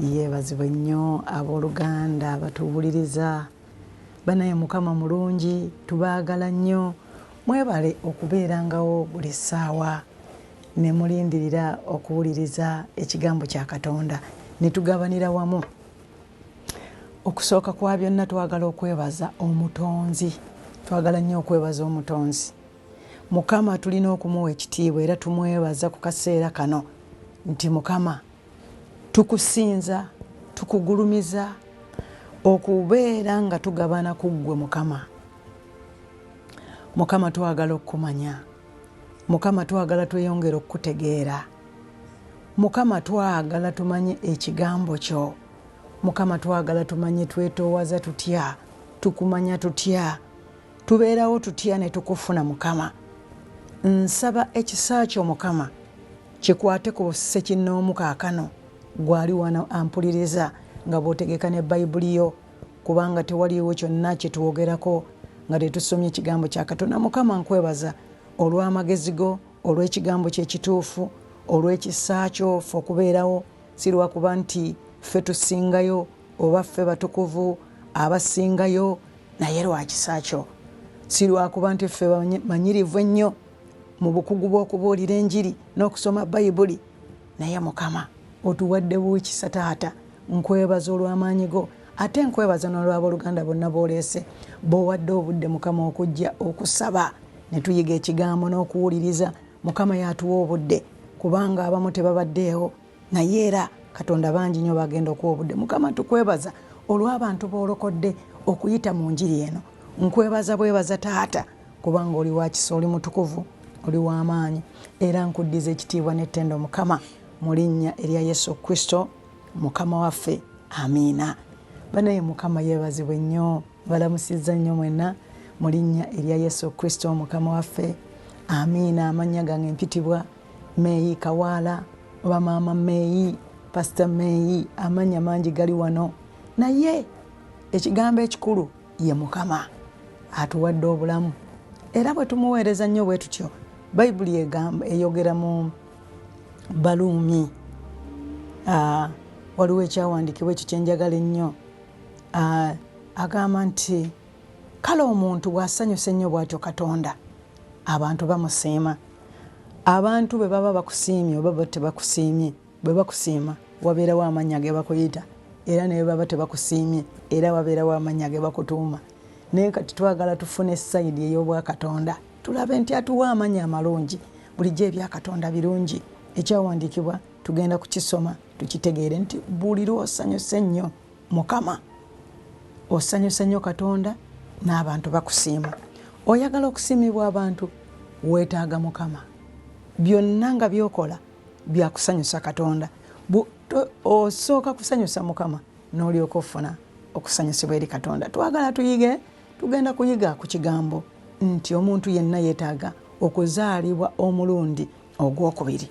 Yebazibwe nnyo aboluganda abatuwuliriza banaye mukama mulungi tubaagala nnyo mwebale okubeerangawo buli ssaawa nemulindirira okuwuliriza ekigambo kya katonda netugabanira wamu okusooka kwa byonna twagala okwebaza omutonzi twagala nnyo okwebaza omutonzi mukama tulina okumuwa ekitiibwa era tumwebaza ku kaseera kano nti mukama Tukusinza, tukugulumiza okubeera nga tugabana ku ggwe Mukama. Mukama twagala okukumanya. Mukama twagala tweyongere okukutegeera. Mukama twagala tumanye ekigambo kyo. Mukama twagala tumanye twetoowaza tutya, tukumanya tutya. tubeerawo tutya ne tukufuna mukama nsaba ekisa kyo mukama kikwate ku ssekinnoomu kaakano gwali wano ampuliriza nga bw'otegeka ne bayibuli yo kubanga tewaliwo kyonna kye twogerako nga tetusomye ekigambo kya katonda mukama nkwebaza olw'amagezi go olw'ekigambo kyekituufu olw'ekisa kyo fe okubeerawo si lwakuba nti ffe tusingayo oba ffe batukuvu abasingayo naye lwa kisa kyo si lwakuba nti ffe bamanyirivu ennyo mu bukugu bw'okubuulira enjiri n'okusoma bayibuli naye mukama otuwadde buukisa taata nkwebaza olw'amaanyi go ate nkwebaza n'olwabooluganda bonna booleese boowadde obudde mukama okujja okusaba ne tuyiga ekigambo n'okuwuliriza mukama yaatuwa obudde kubanga abamu tebabaddeewo naye era katonda bangi nyo bagenda okuwa obudde mukama tukwebaza olw'abantu boolokodde okuyita mu njiri eno nkwebaza bwebaza taata kubanga oli wakisa oli mutukuvu oli w'amaanyi era nkuddiza ekitiibwa n'ettendo mukama mu linnya erya yesu kristo mukama waffe amiina banaye mukama yeebazibwe nnyo balamusizza nnyo mwenna mu linnya erya yesu kristo mukama waffe amiina amannya gange mpitibwa meeyi kawaala oba maama meeyi pasita meeyi amanya mangi gali wano naye ekigambo ekikulu ye mukama atuwadde obulamu era bwe tumuweereza nnyo bwe tutyo bayibuli egamba eyogera mu baluumi ah, waliwo ekyawandiikibwa ekyo kyenjagala ennyo ah, agamba nti kale omuntu bw'asanyusa ennyo bw'atyo katonda abantu bamusiima abantu bwe baba bakusiimye oba ba tebakusiimye bwe bakusiima wabeerawo amannya ge bakuyita era ne bwe baba tebakusiimye era wabeerawo amannya ge bakutuuma naye kati twagala tufune sayidi ey'obwakatonda tulabe nti atuwa amannya amalungi bulijjo ebyakatonda birungi ekyawandiikibwa tugenda kukisoma tukitegeere nti buli lwosanyuse nnyo Mukama, osanyusa nnyo Katonda n'abantu bakusiima. Oyagala okusiimibwa abantu, weetaaga Mukama. Byonna nga by'okola bya kusanyusa Katonda. Osooka kusanyusa Mukama n'olyoka ofuna okusanyusibwa eri Katonda. Twagala tuyige, tugenda kuyiga ku kigambo nti omuntu yenna yeetaaga okuzaalibwa omulundi ogwokubiri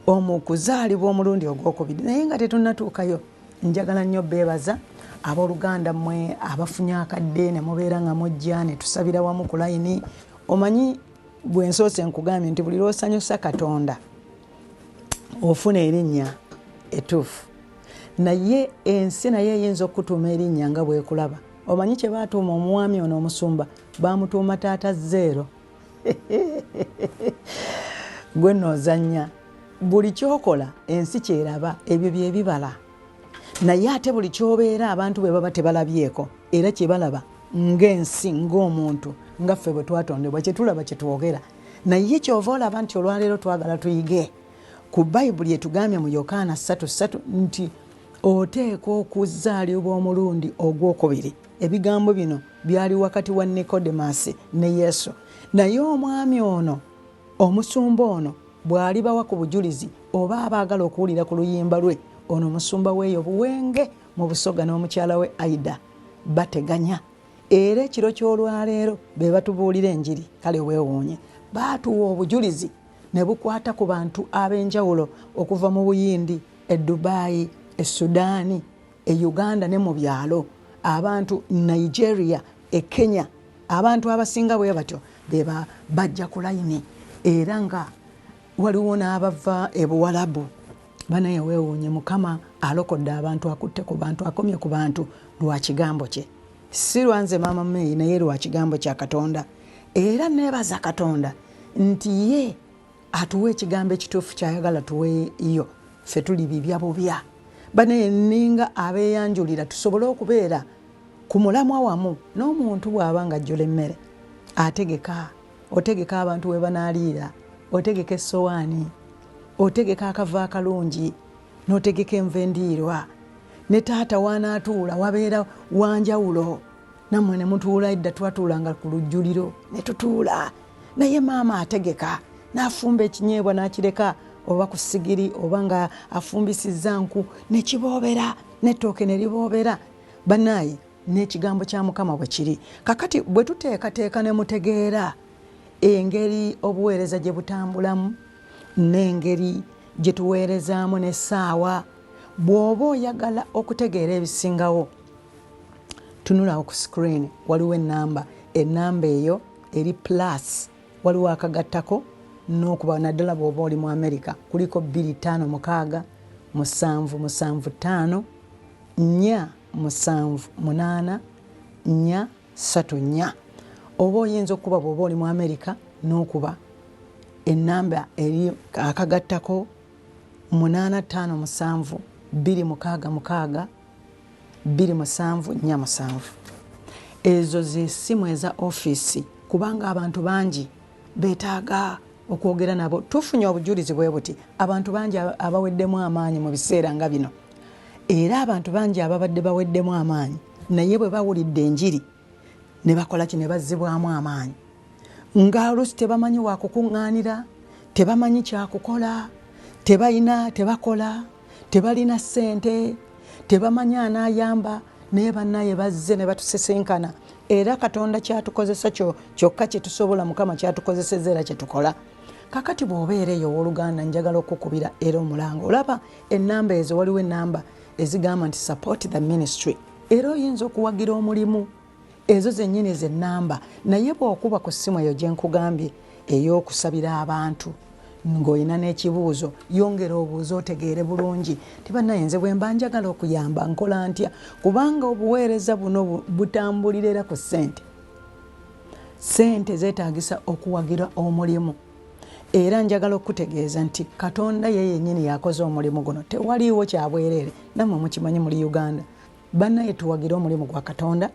omu kuzaalibwa omulundi ogwokubiri naye nga tetunatuukayo njagala nnyo beebaza abooluganda mmwe abafunye akadde ne mubeera nga mujja ne tusabira wamu ku layini omanyi gwe nsoose nkugambye nti buli lwosanyusa katonda ofuna erinnya etuufu naye ensi naye eyinza okukutuuma erinnya nga bwekulaba omanyi kye baatuuma omuwaami ono omusumba baamutuuma taata zeero gwe nozanya buli kyokola ensi kyeraba ebyo byebibala naye ate buli kyobeera abantu bwe baba tebalabyeko era kyebalaba ngaensi ngaomuntu nga ffe bwe twatondebwa kyetulaba kyetwogera naye kyova olaba nti olwaleero twagala tuyige ku bayibuli etugambye mu yokaana 33 nti oteekwa okuzaalibwa omulundi ogwokubiri ebigambo bino Byali wakati wa Nikodemasi ne Yesu. Naye omwami ono, omusumba ono, bw'alibawa ku bujulizi oba abaagala okuwulira ku luyimba lwe, ono omusumba w'eyo Buwenge mu Busoga n'omukyala we Aida bateganya. Era ekiro ky'olwaleero be batubuulira enjiri. Kale weewuunye. Baatuwa obujulizi ne bukwata ku bantu ab'enjawulo okuva mu Buyindi, e Dubai, e Sudaani, e Uganda ne mu byalo abantu Nigeria e Kenya abantu abasinga bwe batyo beba bajja ku layini era nga waliwo n'abava e Buwalabu banaye weewuunye mukama alokodde abantu akutte ku bantu akomye ku bantu lwa kigambo kye si lwanze maama meyi naye lwa kigambo kya katonda era neebaza katonda nti ye atuwa ekigambo ekituufu kyayagala tuweyo fe tuli bibya bubya banaye ninga abeyanjulira tusobole okubeera ku mulamwa wamu n'omuntu bw'aba nga ajjula emmere ategeka otegeka abantu we banaaliira otegeka essowaani otegeka akava akalungi n'otegeka enva endiirwa ne taata waanaatuula wabeera wanjawulo nammwe ne mutuula edda twatuulanga ku lujjuliro ne tutuula naye maama ategeka n'afumba ekinyeebwa n'akireka oba ku sigiri oba nga afumbisizza nku nekiboobera n'ettooke ne liboobera bannaayi n'ekigambo kya mukama bwe kiri kakati bwe tuteekateeka ne mutegeera engeri obuweereza gye butambulamu n'engeri gye tuweerezaamu n'essaawa bw'oba oyagala okutegeera ebisingawo tunulawo ku sikiriini waliwo ennamba ennamba eyo eri plus waliwo akagattako n'okuba naddala bw'oba oli mu amerika kuliko bbiri ttaano mukaaga musanvu musanvu ttaano nnya musanvu munaana nnya ssatu nnya oba oyinza okukuba bw'oba oli mu amerika n'okuba ennamba eri akagattako munaana ttaano musanvu bbiri mukaaga mukaaga bbiri musanvu nnya musanvu ezo zesimu eza ofiisi kubanga abantu bangi betaaga okwogera nabo tufunye obujulizi bwe buti abantu bangi abaweddemu amaanyi mu biseera nga bino era abantu bangi ababadde baweddemu amaanyi naye bwe bawulidde enjiri ne bakola ki ne bazzibwamu amaanyi nga oluusi tebamanyi wakukuŋŋaanira tebamanyi kyakukola tebalina tebakola tebalina ssente tebamanyi anaayamba naye bannaye bazze ne batusisinkana era katonda kyatukozesa kyo kyokka kyetusobola mukama kyatukozeseza era kyetukola kakati bw'obeera eyo ow'oluganda njagala okukubira era omulanga olaba ennamba ezo waliwo ennamba ezigamba nti support the ministry era oyinza okuwagira omulimu ezo zennyini ze nnamba naye bw'okuba ku ssimu eyo gye nkugambye ey'okusabira abantu ng'olina n'ekibuuzo yongera obuuza otegeere bulungi tibanayenze bwe mba njagala okuyamba nkola ntya kubanga obuweereza buno butambulira era ku ssente ssente zeetaagisa okuwagira omulimu Era njagala okukutegeeza nti Katonda ye yennyini yakoze omulimu guno. Tewaliiwo kya bwereere. Nammwe mukimanyi muli Uganda. Bannaye tuwagire omulimu gwa Katonda,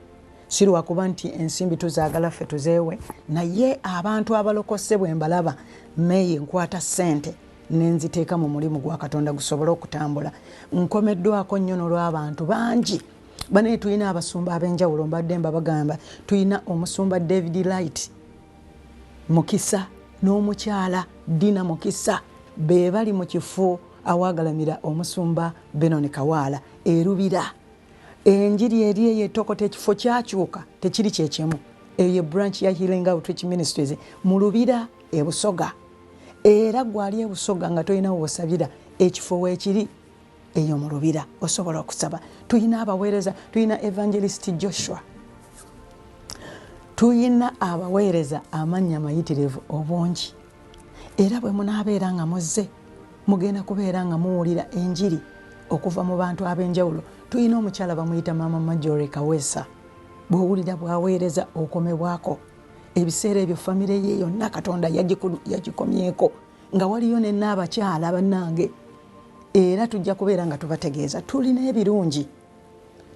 si lwa kuba nti ensimbi tuzaagala ffe tuzeewe, naye abantu abalokose bwe mbalaba, meeyi nkwata ssente ne nziteeka mu mulimu gwa Katonda gusobole okutambula. Nkomeddwako nnyo n'olw'abantu bangi. Bannaye tulina abasumba ab'enjawulo, mbadde mbabagamba. Tulina omusumba David Light. Mukisa n'omukyala Dina Mukisa be bali mu kifo awaagalamira omusumba Benon Kawaala e Lubira. Enjiri eri eyo etokota ekifo kyakyuka tekiri kye kimu. Eyo ye branch ya Healing Outreach Ministries mu Lubira e Busoga. Era gwali e Busoga nga tolina w'osabira ekifo weekiri. eyo mu lubira osobola okusaba tulina abaweereza tulina evangelist joshua tulina abaweereza amannya mayitirivu obungi era bwe munaabeera nga muzze mugenda kubeera nga muwulira enjiri okuva mu bantu ab'enjawulo tulina omukyala bamuyita maama majore kaweesa bw'owulira bwaweereza okomebwako ebiseera ebyo famire ye yonna katonda yagikomyeko nga waliyo ne naabakyala banange era tujja kubeera nga tubategeeza tulina ebirungi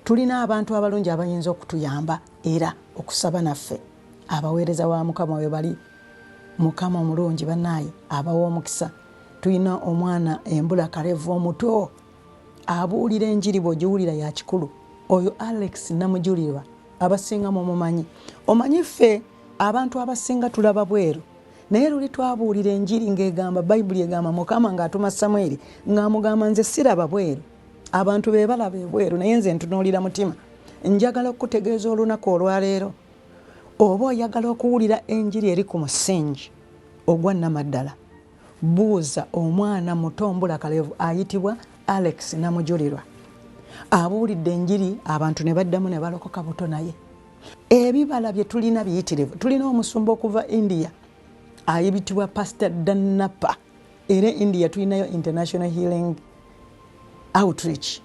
tulina abantu abalungi abayinza okutuyamba era okusaba naffe abaweereza wa mukama we bali mukama omulungi banaaye abawa omukisa tulina omwana embula karevu omuto abuulira enjiri bweogiwulira ya kikulu oyo alex namujulirwa abasinga mumumanyi omanyi ffe abantu abasinga tulaba bweru naye luli twabuulira enjiri ng'egamba bayibuli egamba mukama ng'atuma samweri ng'amugamba nze siraba bweru abantu be balaba ebweru naye nze ntunuulira mutima njagala okukutegeeza olunaku olwaleero oba oyagala okuwulira enjiri eri ku musingi ogwa namaddala buuza omwana muto mbula kalevu ayitibwa alex namujulirwa abuulidde enjiri abantu ne baddamu ne balokoka buto naye ebibala byetulina biyitirivu tulina omusumba okuva india ayibitibwa pastor danapa era india tulinayo international healing outreach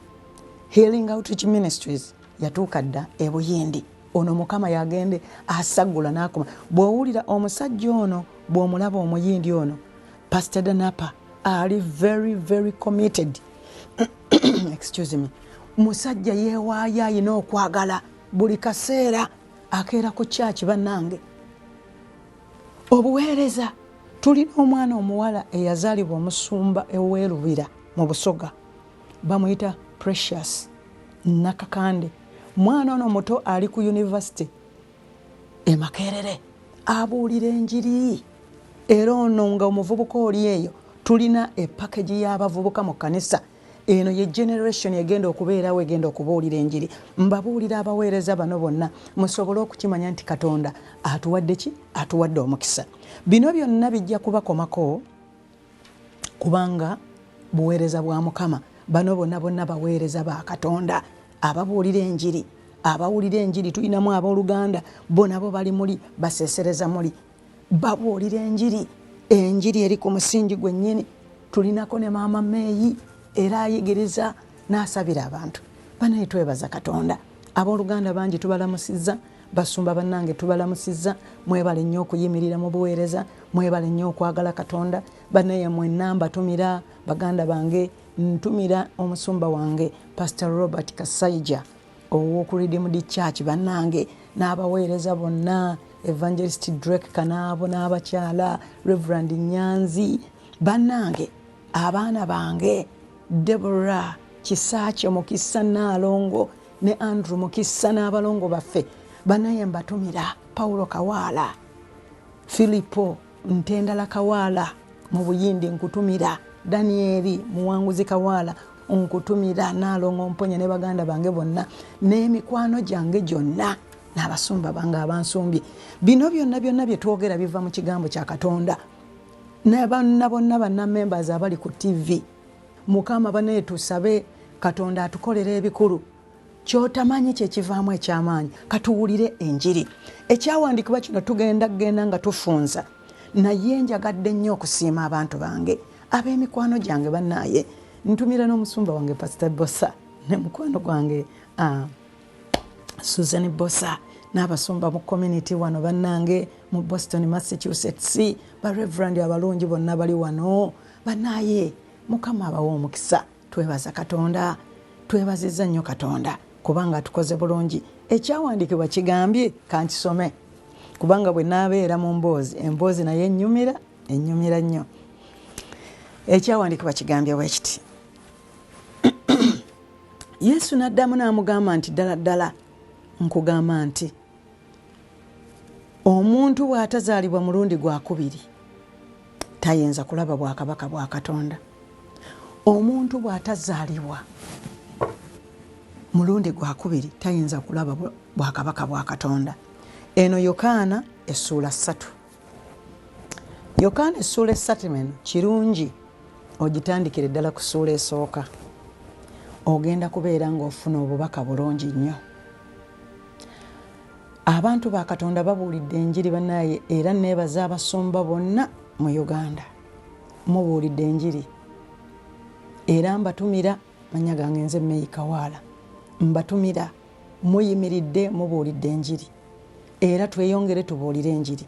healing outreach ministries yatuuka dda ebuyindi ono mukama yagende asagula nakuma bwowulira omusajja ono bwomulaba omuyindi ono pastor danapa ali very very committed excuse me musajja yewaayo ayina okwagala buli kaseera akeera ku kyaki bannange obuweereza tulina omwana omuwala eyazaalibwa omusumba eweerubira mu busoga bamuyita precious nakakande mwana ono muto ali ku univesity emakerere abuulira enjiri era ono nga omuvubuka oli eyo tulina epakagi y'abavubuka mu kanisa eno ye generation egenda okubeerawo egenda okubuulira enjiri mbabuulira abaweereza bano bonna musobole okukimanya nti katonda atuwadde ki atuwadde omukisa bino byonna bijja kubakomako kubanga buweereza bwa mukama bano bonna bonna baweereza ba katonda ababuulira enjiri abawulira enjiri tulinamu abooluganda bo nabo bali muli baseesereza muli babuulira enjiri enjiri eri ku musingi gwennyini tulinako ne maama meeyi era ayigiriza n'asabira abantu banaye twebaza katonda abooluganda bangi tubalamusizza basumba bannange tubalamusizza mwebale nnyo okuyimirira mu buweereza mwebale nnyo okwagala katonda banaye mwenna mbatumira baganda bange ntumira omusumba wange pastor robert kasaija owoku redeemed church banange n'abaweereza bonna evangelist drake kanaabo n'abakyala reverand nyanzi banange abaana bange debora kisaakye mukisa naalongo ne andrew mukisa n'abalongo baffe banaye mbatumira paulo kawaala filipo ntendala kawaala mu buyindi nkutumira danieri muwanguzi kawaala nkutumira naalongo mponya ne baganda bange bonna n'emikwano gyange gyonna n'abasumba bange abansumbye bino byonna byonna bye twogera biva mu kigambo kya katonda nabanna bonna banna members abali ku ttivi mukama banaye tusabe katonda atukolera ebikulu kyotamanyi kyekivaamu ekyamaanyi katuwulire enjiri ekyawandiikibwa kino tugenda kugenda nga tufunza naye njagadde nnyo okusiima abantu bange ab'emikwano gyange banaaye ntumira n'omusumba wange pasita bosa ne mukwano gwange ah, susan bosa n'abasumba mu community wano bannange mu boston massachusetts bareverand abalungi bonna bali wano banaaye mukama abawa omukisa Twebaza Katonda. Twebazizza nnyo Katonda kubanga atukoze bulungi. Ekyawandiikibwa kigambye, ka nkisome, Kubanga bwe naabeera mu mboozi, emboozi nayo ennyumira, ennyumira nnyo. Ekyawandiikibwa kigambye bwe kiti. Yesu n'addamu n'amugamba nti, Ddala ddala nkugamba nti, omuntu bw'atazaalibwa mulundi gwa kubiri, tayinza kulaba bwakabaka bwa katonda omuntu bw'atazaalibwa mulundi gwakubiri tayinza kulaba bwakabaka bwa katonda eno yokaana essuula ssatu yokaana essuula essatu eno kirungi ogitandikire ddala ku ssuula esooka ogenda kubeera ng'ofuna obubaka bulungi nnyo Abantu ba Katonda babuulidde enjiri banaye era nebaza abasumba bonna mu Uganda. Mubuulidde enjiri era mbatumira manya gange nze Meyi Kawaala. Mbatumira muyimiridde mubuulidde enjiri era tweyongere tubuulire enjiri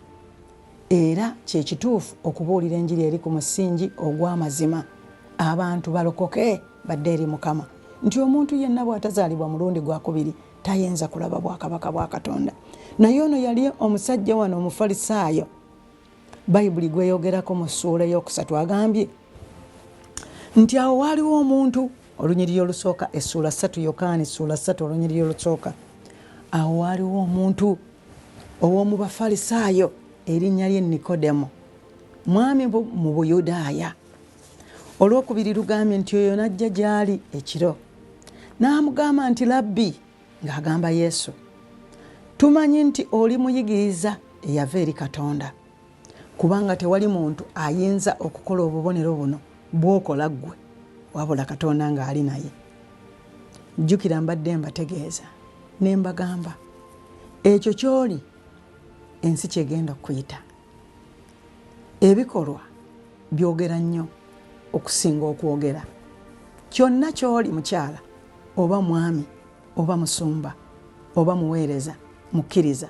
era kyekituufu okubuulira enjiri eri ku musingi ogw'amazima abantu balokoke badde eri Mukama nti omuntu yenna bwatazaalibwa mulundi gwakubiri tayinza kulaba bwakabaka bwa katonda naye ono yali omusajja wano omufalisaayo bayibuli gweyogerako mu ssuula eyokusatu agambye nti awo waaliwo omuntu olunyiriri olusooka essuula satu yokaani ssuula satu olunyiriri olusooka awo waaliwo omuntu ow'omu bafalisaayo erinnya lye nikodemu mwami mu buyudaaya Olwokubiri lugambye nti oyo n'ajja gy'ali ekiro n'amugamba nti Labbi, ng'agamba Yesu, tumanyi nti oli muyigiriza eyava eri Katonda, kubanga tewali muntu ayinza okukola obubonero buno bw'okola ggwe wabula Katonda ng'ali naye. Jjukira mbadde mbategeeza ne mbagamba ekyo ky'oli ensi ky'egenda okukuyita. ebikolwa byogera nnyo okusinga okwogera kyonna kyoli mukyala oba mwami oba musumba oba muweereza mukkiriza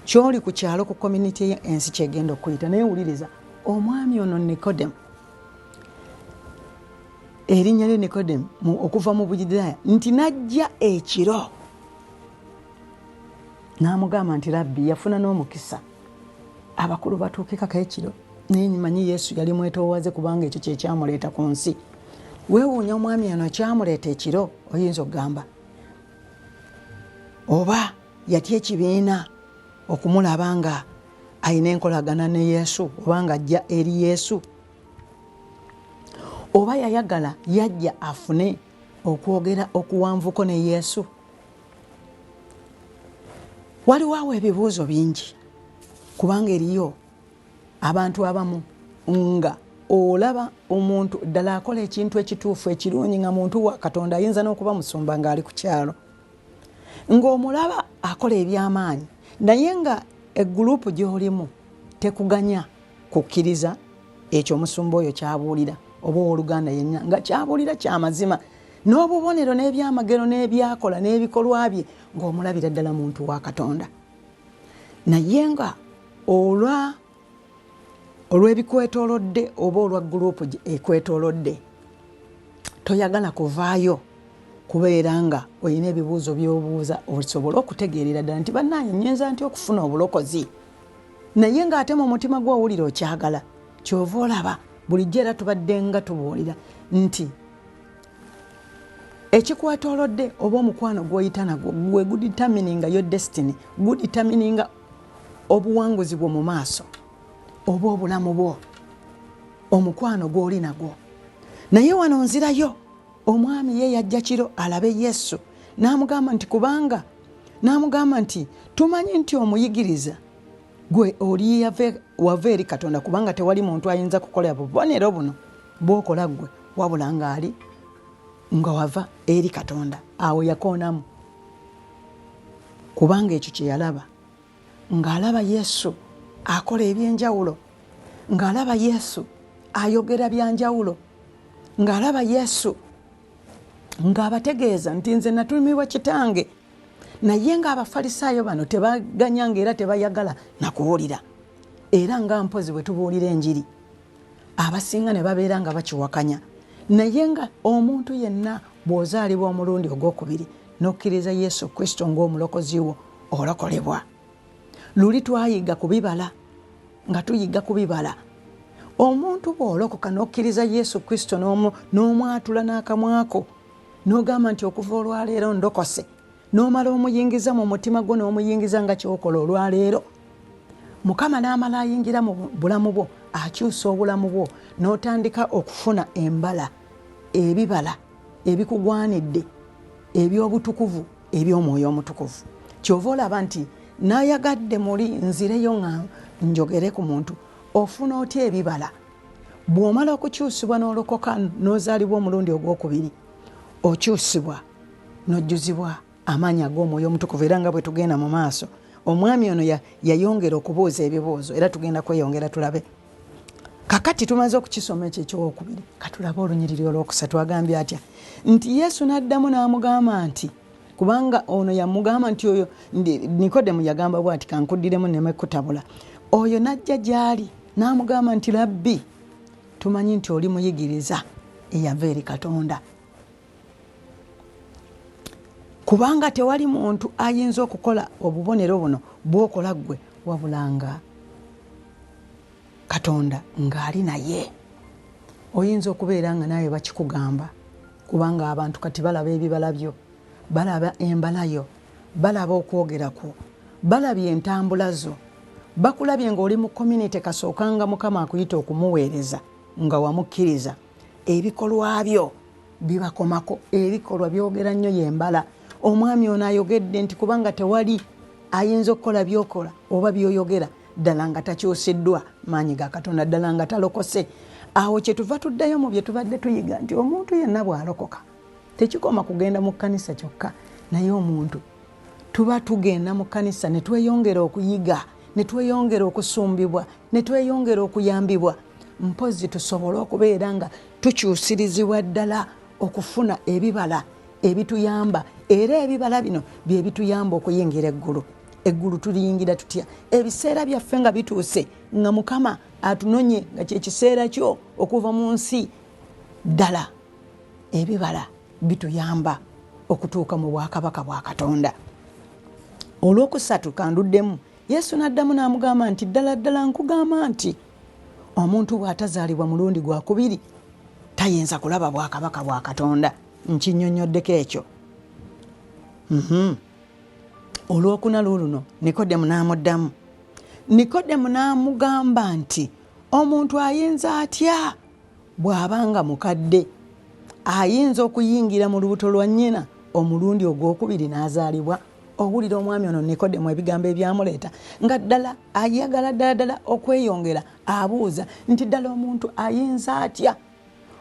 kyoli ku kyalo ku community ye ensi kyegenda okuyita naye wuliriza omwami ono nicodem erinnya lye nicodem okuva mu buyudaaya nti najja ekiro n'amugamba nti labbi yafuna n'omukisa abakulu batuukikako ekiro naye nyimanyi yesu yali mwetoowaze kubanga ekyo kyekyamuleeta ku nsi weewuunya omwami ono kyamuleeta ekiro oyinza okugamba oba yatya ekibiina okumulaba nga alina enkolagana ne yesu oba nga ajja eri yesu oba yayagala yajja afune okwogera okuwanvuko ne yesu waliwo awo ebibuuzo bingi kubanga eriyo abantu abamu nga olaba omuntu ddala akola ekintu ekituufu ekirungi nga muntu wa katonda ayinza n'okuba musumba ng'ali ku kyalo ng'omulaba akola eby'amaanyi naye nga egguluupu gy'olimu tekuganya kukkiriza ekyo omusumba oyo kyabuulira oba owoluganda yenna nga kyabuulira kyamazima n'obubonero n'ebyamagero n'ebyakola n'ebikolwa bye ng'omulabira ddala muntu wa katonda naye nga olwa olw'ebikwetolodde oba olwa gurupu ekwetolodde toyagala kuvaayo kubeera nga olina ebibuuzo by'obuuza osobole okutegeerera ddala nti bannaaye nnyinza nti okufuna obulokozi naye ng'ate mu mutima gw'owulira okyagala kyova olaba bulijjo era tubadde nga tubuulira nti ekikwatolodde oba omukwano gwoyita nagwo gwe guditamininga yo destiny guditamininga obuwanguzi bwo mu maaso oba obulamu bwo omukwano gwoli nagwo naye wano nzirayo omwami ye yajja kiro alabe yesu n'amugamba nti kubanga n'amugamba nti tumanyi nti omuyigiriza gwe oli wava eri katonda kubanga tewali muntu ayinza kukola bubonero buno bwokola gwe wabula ngaali nga wava eri katonda awo yakoonamu kubanga ekyo kyeyalaba ng'alaba yesu akola ebyenjawulo ng'alaba yesu ayogera byanjawulo ng'alaba yesu ng'abategeeza nti nze natumiibwa kitange naye nga abafalisaayo bano tebaganya nga era tebayagala nakuwulira era nga mpozi bwe tubuulira enjiri abasinga ne babeera nga bakiwakanya naye nga omuntu yenna bw'ozaalibwa omulundi ogwokubiri n'okkiriza yesu kristo ng'omulokozi wo olokolebwa luli twayiga kubibala nga tuyiga kubibala omuntu bw'olokoka n'okkiriza yesu kristo n'omwatula n'akamwako nogamba nti okuva olwaleero ndokose nomala omuyingiza mu mutima gwo nomuyingiza nga kyokola olwaleero mukama namala ayingira mu bulamu bwo akyusa obulamu bwo notandika okufuna embala ebibala ebikugwanidde ebyobutukuvu ebyomwoyo omutukuvu kyova olaba nti nayagadde muli nzireyo nga njogere ku muntu ofuna otya ebibala bw'omala okukyusibwa n'olokoka n'ozaalibwa omulundi ogw'okubiri okyusibwa n'ojjuzibwa amaanyi ag'omwoyo omutukuvu era nga bwe tugenda mu maaso omwami ono yayongera okubuuza ebibuuzo era tugenda kweyongera tulabe kakati tumaze okukisoma ekyo ekyowokubiri katulabe olunyiriri olwokusatu agambye atya nti yesu n'addamu n'amugamba nti kubanga ono yamugamba nti oyo nikodemu yagamba bw ati kankuddiremu nemekutabula oyo najja gyali n'amugamba nti labbi tumanyi nti oli muyigiriza eyava eri katonda kubanga tewali muntu ayinza okukola obubonero buno bwokola ggwe wabulanga katonda ng'ali naye oyinza okubeera nga naawe bakikugamba kubanga abantu kati balaba ebibala byo balaba embala yo balaba okwogera kwo balabye entambula zo bakulabye ng'oli mu community kasookanga mukama akuyita okumuweereza nga wamukkiriza ebikolwa byo bibakomako ebikolwa byogera nnyo yembala omwami ono ayogedde nti kubanga tewali ayinza okukola byokola oba byoyogera ddala nga takyusiddwa maanyi ga katonda ddala nga talokose awo kyetuva tuddayo mu bye tubadde tuyiga nti omuntu yenna bwalokoka tekikoma kugenda mu kkanisa kyokka naye omuntu tuba tugenda mu kkanisa ne tweyongera okuyiga ne tweyongera okusumbibwa ne tweyongera okuyambibwa mpozzi tusobole okubeera nga tukyusirizibwa ddala okufuna ebibala ebituyamba era ebibala bino bye bituyamba okuyingira eggulu eggulu tuliyingira tutya ebiseera byaffe nga bituuse nga mukama atunonye nga kyekiseera kyo okuva mu nsi ddala ebibala bituyamba okutuuka mu bwakabaka bwa katonda olwokusatu kanduddemu yesu n'addamu n'amugamba nti ddala ddala nkugamba nti omuntu bw'atazaalibwa mulundi gwa kubiri tayinza kulaba bwakabaka bwa katonda nkinyonyoddeko ekyo mhm. olwokuna luuluno nikodemu n'amuddamu nikodemu n'amugamba nti omuntu ayinza atya bw'aba nga mukadde ayinza okuyingira mu lubuto lwa nnyina omulundi ogw'okubiri n'azaalibwa na owulira omwami ono nikodemu ebigambo ebyamuleeta nga ddala ayagala ddala ddala okweyongera abuuza nti ddala omuntu ayinza atya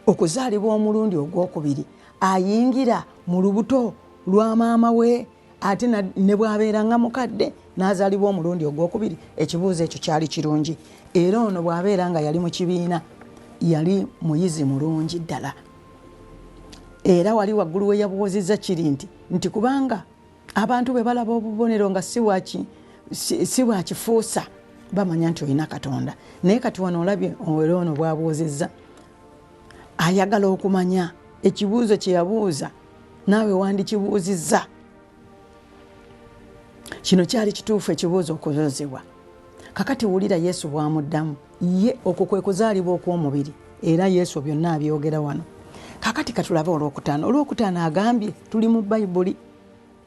okuzaalibwa omulundi ogwokubiri ayingira mu lubuto lwa maama we ate ne bwabeera nga mukadde n'azaalibwa omulundi ogwokubiri ekibuuzo ekyo kyali kirungi era ono bw'abeera nga yali mu kibiina yali muyizi mulungi ddala era wali waggulu we yabuuzizza kiri nti nti kubanga abantu bwe balaba obubonero nga si bwa kifuusa bamanya nti olina katonda naye kati wano olabye owere ono bwabuuzizza ayagala okumanya ekibuuzo kye yabuuza naawe wandikibuuzizza kino kyali kituufu ekibuuzo okubuuzibwa kakati wulira yesu bwamuddamu ye okwo kwe kuzaalibwa okw'omubiri era yesu byonna abyogera wano kakati katulabe olwokutaano olwokutaano agambye tuli mu bayibuli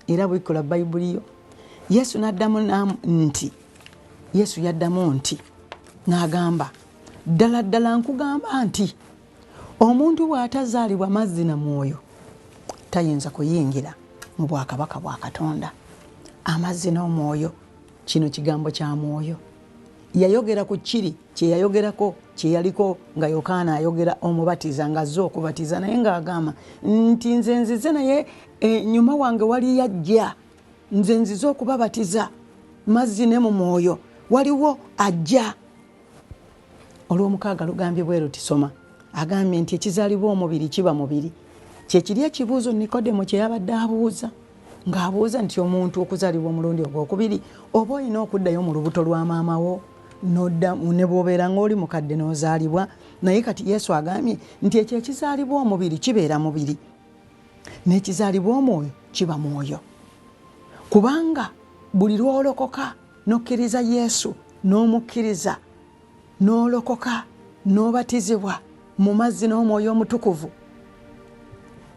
era bwikola bayibuli yo yesu naddamu nti yesu yaddamu nti n'agamba ddala ddala nkugamba nti omuntu bw'atazaalibwa mazzi na mwoyo tayinza kuyingira mu bwakabaka bwa katonda amazzi n'omwoyo Kino kigambo kya mwoyo. Yayogera ku kiri kye yayogerako kye yaliko nga Yokaana ayogera omubatiza ng'azze okubatiza naye ng'agamba nti nze nzize naye ennyuma eh, wange wali yajja nze nzize okubabatiza mazzi ne mu mwoyo waliwo ajja olwomukaaga lugambye bwe luti soma agambye nti ekizaalibwa omubiri kiba mubiri kyekiri ekibuuzo nikodemu kye yabadde abuuza ng'abuuza nti omuntu okuzaalibwa omulundi ogwokubiri oba olina okuddayo mu lubuto lwa maama wo nodda ne bwobeera ng'oli mukadde n'ozaalibwa naye kati yesu agambye nti ekyo ekizaalibwa omubiri kibeera mubiri n'ekizaalibwa omwoyo kiba mwoyo kubanga buli lwolokoka nokkiriza yesu n'omukkiriza n'olokoka n'obatizibwa mu mazzi n'omwoyo omutukuvu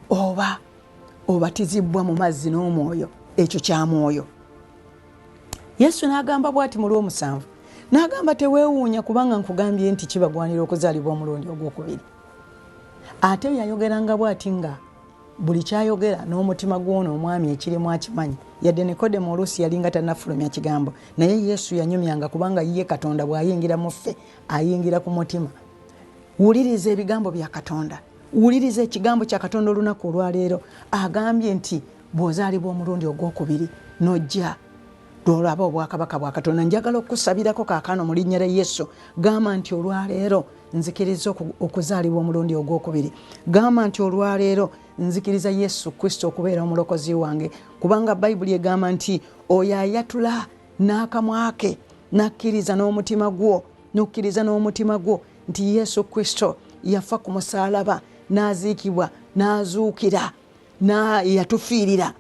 oba obatizibbwa mu mazzi n'omwoyo ekyo kya mwoyo yesu n'agamba bwati mu lw'omusanvu n'agamba teweewuunya kubanga nkugambye nti kibagwanira okuzaalibwa omulundi ogwokubiri ate yayogeranga bwati nga buli kyayogera n'omutima gw'ono omwami ekirimu akimanyi yadde nikodemu oluusi yalinga tanafulumya kigambo naye yesu yanyumyanga kubanga ye katonda bw'ayingira mu ffe ayingira ku mutima wuliriza ebigambo bya katonda wuliriza ekigambo kya katonda olunaku olwaleero agambye nti bw'ozaalibwa omulundi ogw'okubiri n'ojja lwolaba obwakabaka bwa katonda njagala okukusabirako kakano mu linnya lya yesu gamba nti olwaleero nzikiriza okuzaalibwa omulundi ogwokubiri gamba nti olwaleero nzikiriza yesu kristo okubeera omulokozi wange kubanga bayibuli egamba nti oyo ayatula n'akamwa ke n'akkiriza n'omutima gwo n'okkiriza n'omutima gwo nti yesu kristo yafa ku musaalaba n'aziikibwa n'azuukira yatufiirira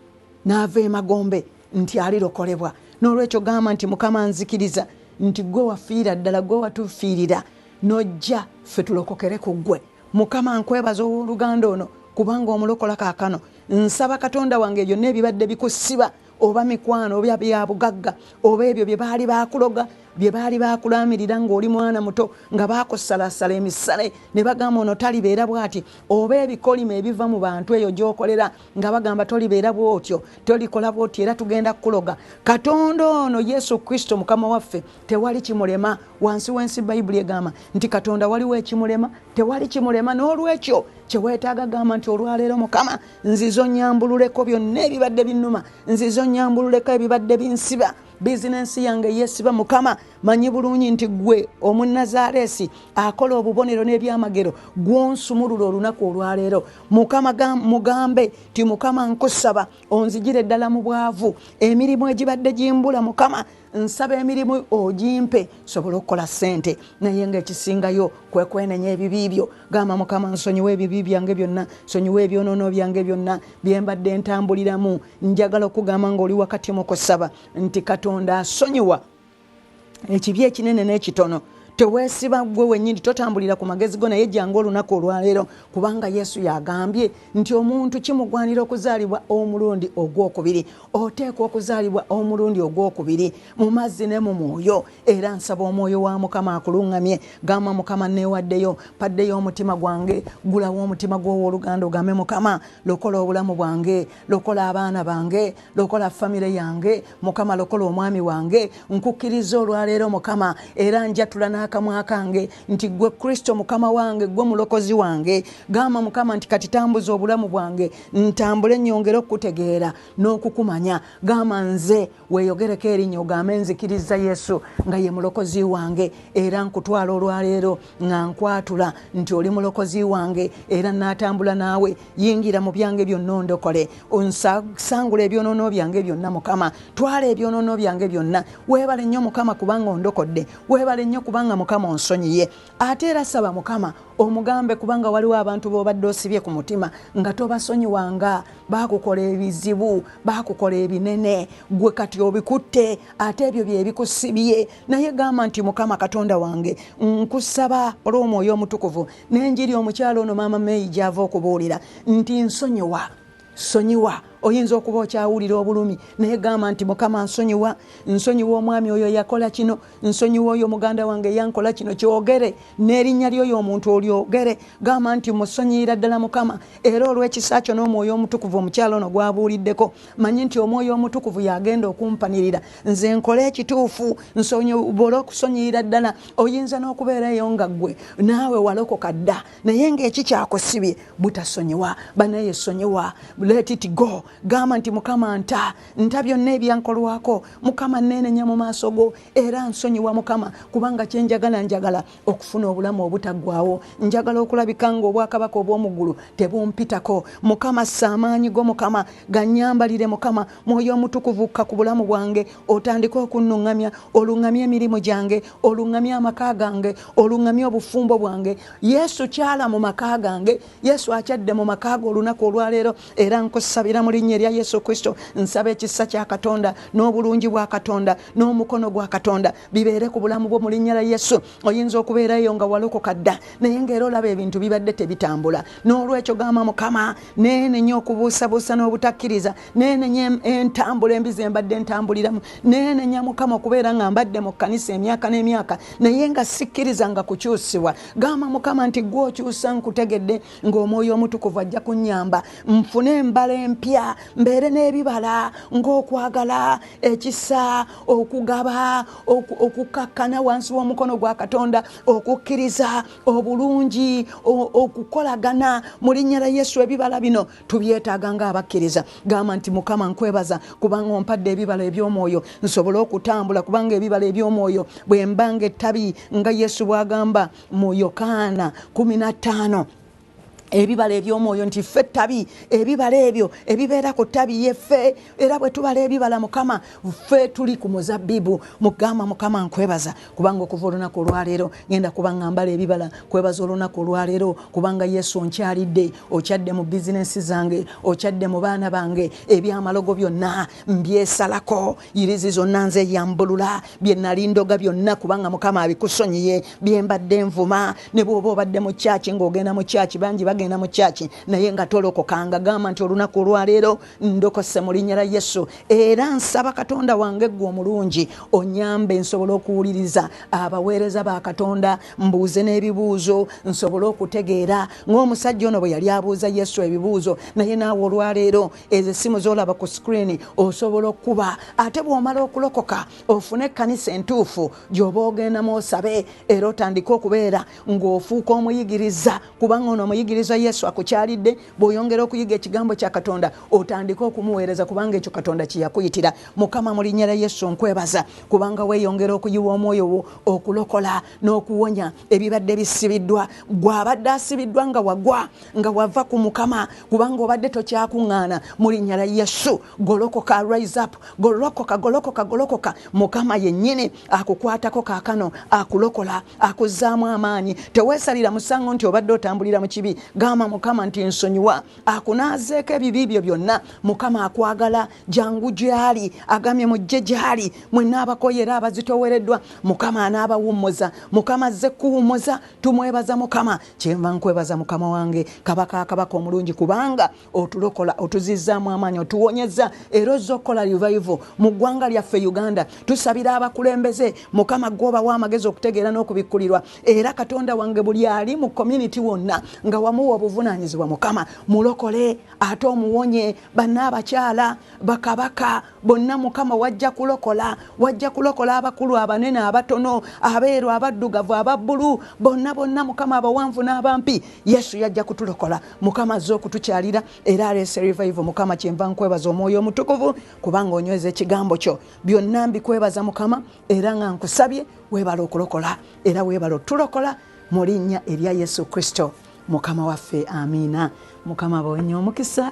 n'ava emagombe nti alirokolebwa n'olwekyo gamba nti mukama nzikiriza nti gwe wafiira ddala gwe watufiirira nojja ffe tulokokere ku ggwe mukama nkwebaza ow'oluganda ono kubanga omulokola kaakano nsaba katonda wange byonna ebibadde bikusiba oba mikwano oba byabugagga oba ebyo bye baali bakuloga bye baali bakulamirira ng'oli mwana muto nga bakusalasala emisale ne bagamba ono talibeera bwati oba ebikolimo ebiva mu bantu eyo gy'okolera nga bagamba tolibeera bwotyo tolikola bwotyo era tugenda kukuloga katonda ono yesu kristo mukama waffe tewali kimulema wansi w'ensi bayibuli egamba nti katonda waliwo ekimulema tewali kimulema n'olwekyo kye weetaaga gamba nti olwaleero mukama nzize onyambululeko byonna ebibadde binuma nzize onyambululeko ebibadde binsiba bizinensi yange yesiba mukama manyi bulungi nti gwe omunazareesi akola obubonero n'ebyamagero gwonsumulula olunaku olwaleero mukama mugambe ti mukama nkusaba onzijire ddala mu bwavu emirimu egibadde gimbula mukama nsaba emirimu ogimpe sobola okukola sente naye nga ekisingayo kwekwenenya ebibi byo gamba mukama nsonyiwa ebibi byange byonna sonyiwa ebyonono byange byonna byembadde ntambuliramu njagala okugamba nga oli wakati mukusaba nti katonda asonyiwa ekibi ekinene n'ekitono tewesiba gwe wenyini totambulira ku magezi go naye jangu olunaku olwaleero kubanga yesu yagambye nti omuntu kimugwanira okuzaalibwa omulundi ogwokubiri oteekwa okuzaalibwa omulundi ogw'okubiri mu mazzi ne mu mwoyo era nsaba omwoyo wa mukama akuluŋŋamye gamba mukama neewaddeyo paddeyo omutima gwange gulawo omutima gw'owoluganda ogambe mukama lokola obulamu bwange lokola abaana bange lokola famire yange mukama lokola omwami wange nkukkiriza olwaleero mukama era njatula n'akamwa kange nti ggwe kristo mukama wange ggwe mulokozi wange gamba mukama nti kati tambuza obulamu bwange ntambule nyongere okukutegeera n'okukumanya gamba nze weeyogereko erinnya ogambe nzikiriza yesu nga ye mulokozi wange era nkutwala olwaleero nga nkwatula nti oli mulokozi wange era naatambula naawe yingira mu byange byonna ondokole onsangula ebyonoono byange byonna mukama twala ebyonoono byange byonna weebale nnyo mukama kubanga ondokodde weebale nnyo kubanga mukama onsonyiye ate era saba mukama omugambe kubanga waliwo abantu bobadde osibye ku mutima nga tobasonyiwanga bakukola ebizibu bakukola ebinene gwe kati obikutte ate ebyo byebikusibye naye gamba nti mukama katonda wange nkusaba olw'omwoyo omutukuvu nenjiri omukyalo ono maama meyi gyava okubuulira nti nsonyiwa sonyiwa oyinza okuba okyawulira obulumi naye gamba nti mukama nsonyiwa nsonyiwa omwami oyo yakola kino nsonyiwa oyo muganda wange yankola kino kyogere n'erinnya lyoyo omuntu olyogere gamba nti musonyiyira ddala mukama era olw'ekisa kyo n'omwoyo omutukuvu omukyalo ono gwabuuliddeko manyi nti omwoyo omutukuvu yagenda okumpanirira nze nkole ekituufu nsonyobole okusonyiyira ddala oyinza n'okubeera eyo nga ggwe naawe walokoka dda naye ngaeki kyakusibye butasonyiwa banaye sonyiwa let it go gamba nti mukama nta nta byonna ebyankolwako mukama nenenya mu maaso go era nsonyiwa mukama kubanga kyenjagala njagala okufuna obulamu obutaggwawo njagala okulabika nga obwakabaka obw'omuggulu tebumpitako mukama saamaanyi go mukama ganyambalire mukama mwoyo omutukuvu kka ku bulamu bwange otandike okunnuŋŋamya oluŋŋamya emirimu gyange oluŋŋamya amaka gange oluŋŋamya obufumbo bwange yesu kyala mu maka gange yesu akyadde mu maka ge olunaku olwaleero era nkusabira mu linnya erya yesu kristo nsaba ekisa kya katonda n'obulungi bwa katonda n'omukono gwa katonda bibeere ku bulamu bwo mu linnya lya yesu oyinza okubeerayo nga walokoka dda naye ngaera olaba ebintu bibadde tebitambula n'olwekyo gamba mukama neenenya okubuusabuusa n'obutakkiriza nenenya entambula embi zembadde ntambuliramu nenenya mukama okubeera nga mbadde mu kkanisa emyaka n'emyaka naye nga sikkiriza nga kukyusibwa gamba mukama nti gwe okyusa nkutegedde ng'omwoyo omutukuvu ajja kunyamba nfune embala empya mbeere n'ebibala ng'okwagala ekisa okugaba okukakkana wansi w'omukono gwa katonda okukkiriza obulungi okukolagana mu linnya la yesu ebibala bino tubyetaaga ng'abakkiriza gamba nti mukama nkwebaza kubanga ompadde ebibala eby'omwoyo nsobole okutambula kubanga ebibala eby'omwoyo bwe mbanga ettabi nga yesu bw'agamba mu yokaana 15 ebibala ebyomwoyo nti ffe ettabi ebibala ebyo ebibeera ku ttabi yeffe era bwe tubala ebibala mukama ffe tuli ku muzabbibu mugamba mukama nkwebaza kubanga okuva olunaku olwaleero ngenda kuba nga mbala ebibala kwebaza olunaku olwaleero kubanga yesu onkyalidde okyadde mu bizinensi zange okyadde mu baana bange ebyamalogo byonna mbyesalako yirizi zonna nze yambulula byenalindoga byonna kubanga mukama abikusonyiye byembadde nvuma ne bwoba obadde mu kyaki ngaogenda mu kyaki bangi bagenda mu kyaki naye nga tolokokanga gamba nti olunaku olwaleero ndokose mu linnya lya yesu era nsaba katonda wange ggwe omulungi onyambe nsobole okuwuliriza abaweereza ba katonda mbuuze n'ebibuuzo nsobole okutegeera ng'omusajja ono bwe yali abuuza yesu ebibuuzo naye naawe olwaleero ezo essimu z'olaba ku sikrini osobola okukuba ate bw'omala okulokoka ofune ekkanisa entuufu gy'oba ogendamu osabe era otandike okubeera ng'ofuuka omuyigiriza kubanga ono omuyigiriza yesu akukyalidde bw'oyongera okuyiga ekigambo kya katonda otandike okumuweereza kubanga ekyo katonda kyeyakuyitira mukama mu linnya lya yesu nkwebaza kubanga weeyongera okuyiwa omwoyo wo okulokola n'okuwonya ebibadde bisibiddwa gwe abadde asibiddwa nga wagwa nga wava ku mukama kubanga obadde tokyakuŋŋaana mu linnya lya yesu golokoka rise up golokoka golokoka golokoka mukama yennyini akukwatako kaakano akulokola akuzzaamu amaanyi teweesalira musango nti obadde otambulira mu kibi gamba mukama nti nsonyiwa akunaazeeko ebibi byo byonna mukama akwagala jangu gyali agamye mujje gyali mwena abakoye era abazitowereddwa mukama anaabawummuza mukama azze kuwummuza tumwebaza mukama kyenva nkwebaza mukama wange kabaka akabaka omulungi kubanga otulokola otuzizzaamu amaanyi otuwonyezza era ozza okukola revival mu ggwanga lyaffe uganda tusabira abakulembeze mukama gwobawa amagezi okutegeera n'okubikkulirwa era katonda wange buli ali mu community wonna nga wamuwa obuvunaanyizibwa mukama mulokole ate omuwonye banna abakyala bakabaka bonna mukama wajja kulokola wajja kulokola abakulu abanene abatono abeeru abaddugavu ababbulu bonna bonna mukama abawanvu n'abampi yesu yajja kutulokola mukama azze okutukyalira era aleese revival mukama kyenva nkwebaza omwoyo omutukuvu kubanga onyweza ekigambo kyo byonna mbikwebaza mukama era nga nkusabye weebala okulokola era weebala otulokola mu linnya erya yesu kristo mukama waffe amiina mukama bawenye omukisa